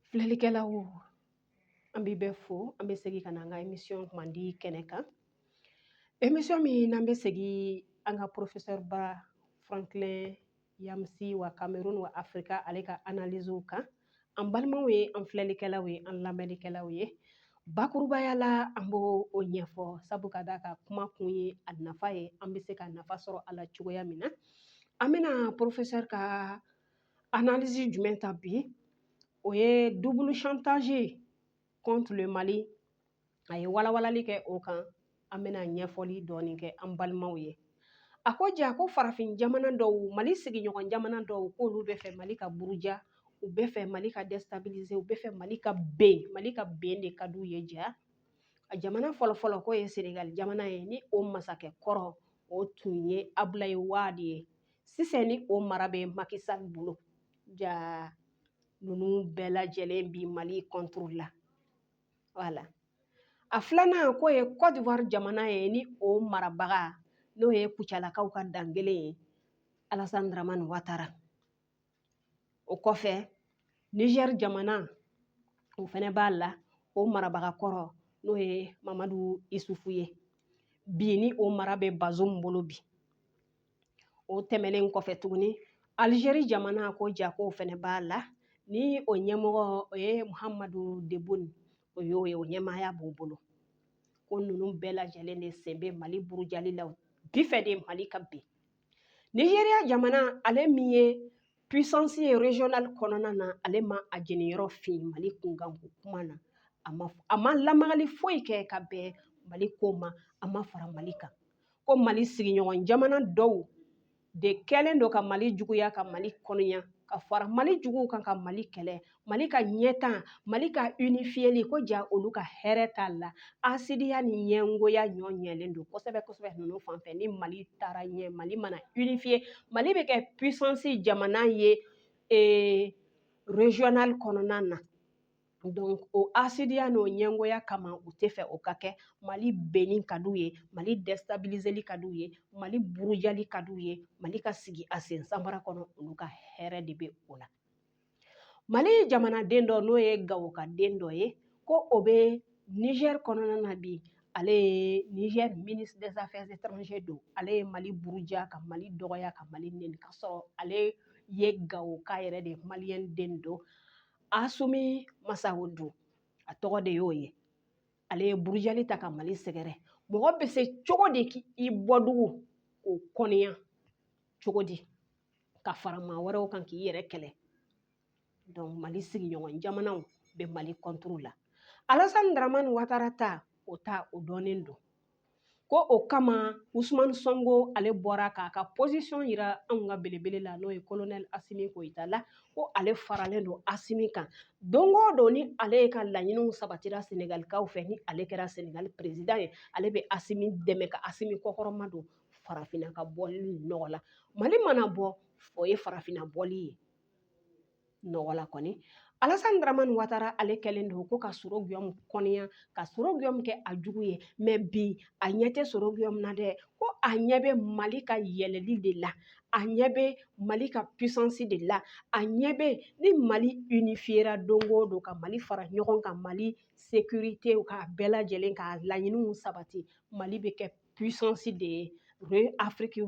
Filɛlikɛlaw an bɛ bɛɛ fo an bɛ segin ka na an ka emisɔn kumandi kɛnɛ kan emisɔn min n'an bɛ segin an ka porofesɛriba franklin nyamsi wa kamerun wa afirika ale ka analiziw kan an balimaw ye an filɛlikɛlaw ye an lamɛnnikɛlaw ye bakurubaya la an b'o ɲɛfɔ sabu ka d'a kan kuma kun ye a nafa ye an bɛ se ka nafa sɔrɔ a la cogoya min na an bɛna porofesɛri ka analizi jumɛn ta bi o ye double chantage contre le mali a ye walawalali kɛ o kan an bɛna ɲɛfɔli dɔɔni kɛ an balimaw ye a ko ja ko farafin jamana dɔw mali sigiɲɔgɔn jamana dɔw k'olu bɛ fɛ mali ka buruja u bɛ fɛ mali ka dɛsɛtabilize u bɛ fɛ mali ka ben mali ka ben de ka d'u ye ja a jamana fɔlɔfɔlɔ k'o ye senegali jamana ye ni o masakɛ kɔrɔ o tun ye abulayi wadi ye sisan ni o mara bɛ Macky Sall bolo ja ninnu bɛɛ lajɛlen bi Mali contre la voilà a filanan k'o ye Côte d'Ivoire jamana ye ni o marabaga n'o ye Kucalakaw ka dankelen ye Alassane Dramane Ouattara o kɔfɛ nizɛri jamana o fɛnɛ b'a la o marabaga kɔrɔ n'o ye mamadu isufu ye bi ni o mara bɛ bazum bolo bi o tɛmɛnen kɔfɛ tuguni alizeri jamana ko ja k'o fɛnɛ b'a la ni o ɲɛmɔgɔ o ye muhamadu tebun o y'o ye o ɲɛmaaya b'o bolo ko ninnu bɛɛ lajɛlen de sen bɛ mali burujali la bi fɛ de mali ka bin Nigeria jamana ale min ye puissance ye regional kɔnɔna na ale ma a jeniyɔrɔ fin mali kunkanko kuma na a ma lamagali foyi kɛ ka bɛn mali ko ma a ma fara mali kan ko mali sigiɲɔgɔn jamana dɔw de kɛlen don ka mali juguya ka mali kɔniya ka fara mali juguw kan ka mali kɛlɛ mali ka ɲɛtaa mali ka unifiyeli ko ja olu ka hɛrɛ t'a la asidiya ni ɲɛngoya ɲɔ ɲɛlen don kosɛbɛ kosɛbɛ ninnu fan fɛ ni mali taara ɲɛ mali mana unifiye mali bɛ kɛ puissance jamana ye ee regional kɔnɔna na donc o asidiya n'o ɲɛngoya kama u tɛ fɛ o ka kɛ mali benni ka d'u ye mali dɛstabilizeli ka d'u ye mali burujali ka d'u ye mali ka sigi a sen sanbara kɔnɔ olu ka hɛrɛ de bɛ o la mali jamanaden dɔ n'o ye gawoka den dɔ ye ko o bɛ nizɛri kɔnɔna na bi ale ye nizɛri ministre des affaires étrangères don ale ye mali buruja ka mali dɔgɔya ka mali neni ka sɔrɔ ale ye gawoka yɛrɛ de maliyɛn den don asumi masawudu a tɔgɔ de y'o ye ale ye burujali ta ka mali sɛgɛrɛ mɔgɔ bɛ se cogo di k'i bɔdugu k'o kɔniya cogo di ka fara maa wɛrɛw kan k'i yɛrɛ kɛlɛ donc mali sigiɲɔgɔn jamanaw bɛ mali kɔntoro la alasani daramani watara ta o ta o dɔnnen don ko o kama usumani sɔnko ale bɔra k'a ka pɔsisɔn yira anw ka belebele la n'o ye kolonɛl asimi goyita la ko ale faralen don asimi kan don o don ni ale ka laɲiniw sabatira senegalikaw fɛ ni ale kɛra senegali perezidan ye ale bɛ asimi dɛmɛ ka asimi kɔkɔrɔma don farafinna ka bɔli nɔgɔ la mali mana bɔ o ye farafinna bɔli ye nɔgɔ la kɔni alasan daramani watara ale kɛlen don ko ka soro guyɔmu kɔniya ka soro guyɔmu kɛ a jugu ye mɛ bi a ɲɛ tɛ soro guyɔmu na dɛ ko a ɲɛ bɛ mali ka yɛlɛli de la a ɲɛ bɛ mali ka puissance de la a ɲɛ bɛ ni mali unifiera don o don ka mali fara ɲɔgɔn kan mali sécurité ka bɛɛ lajɛlen ka laɲiniw sabati mali bɛ kɛ puissance de ye Afrique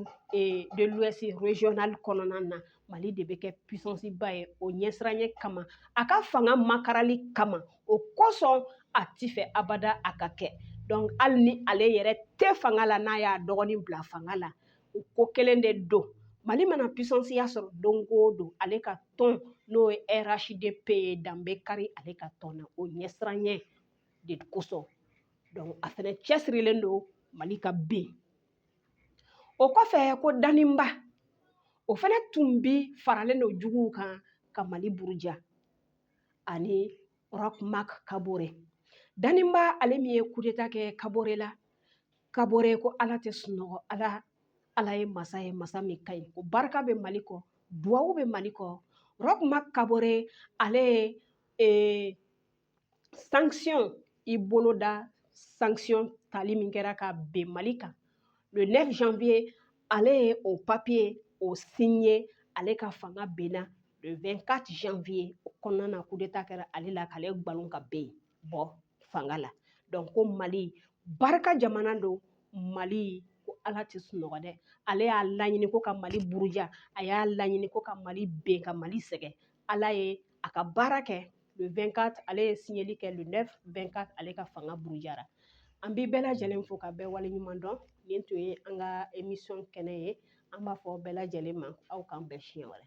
de l'Ouest régional kɔnɔna na Mali de bɛ kɛ puissance ba ye o ɲɛsiranɲɛ kama a ka fanga makarali kama o kosɔn a ti fɛ abada a ka kɛ donc hali ni ale yɛrɛ tɛ fanga la n'a y'a dɔgɔnin bila fanga la o ko kelen de don Mali mana puissance ya sɔrɔ don o don ale ka tɔn n'o ye RHDP ye dan bɛ kari ale ka tɔn na o ɲɛsiranɲɛ de kosɔn donc a fɛnɛ cɛsirilen don mali ka ben o kɔfɛ ko daninba o fɛnɛ tun bi faralen don juguw kan ka mali buruja ani roch marc kabore daninba ale min ye kudeta kɛ kabore la kabore ko ala tɛ sunɔgɔ ala ye masa ye masa min ka ɲi ko barika bɛ mali kɔ duwawu bɛ mali kɔ roch marc kabore ale ye eh, sanction i bolo da sanction tali min kɛra ka ben mali kan le 9 janvier ale ye o papiye o signé ale ka fanga benna le 24 janvier o kɔnɔna na kudeta kɛra ale la k'ale gbalon ka ben bɔ fanga la donc ko mali barika jamana don mali ko ala tɛ sunɔgɔ dɛ ale y'a laɲini ko ka mali buruja a y'a laɲini ko ka mali ben ka mali sɛgɛn ala ye a ka baara kɛ le 24 ale ye siɲɛli kɛ le 9 24 ale ka fanga burujara an bɛ bɛɛ lajɛlen fo ka bɛɛ waleɲuman dɔn nin tun ye an ka emisɔn kɛnɛ ye an b'a fɔ bɛɛ lajɛlen ma aw k'an bɛn siɲɛ wɛrɛ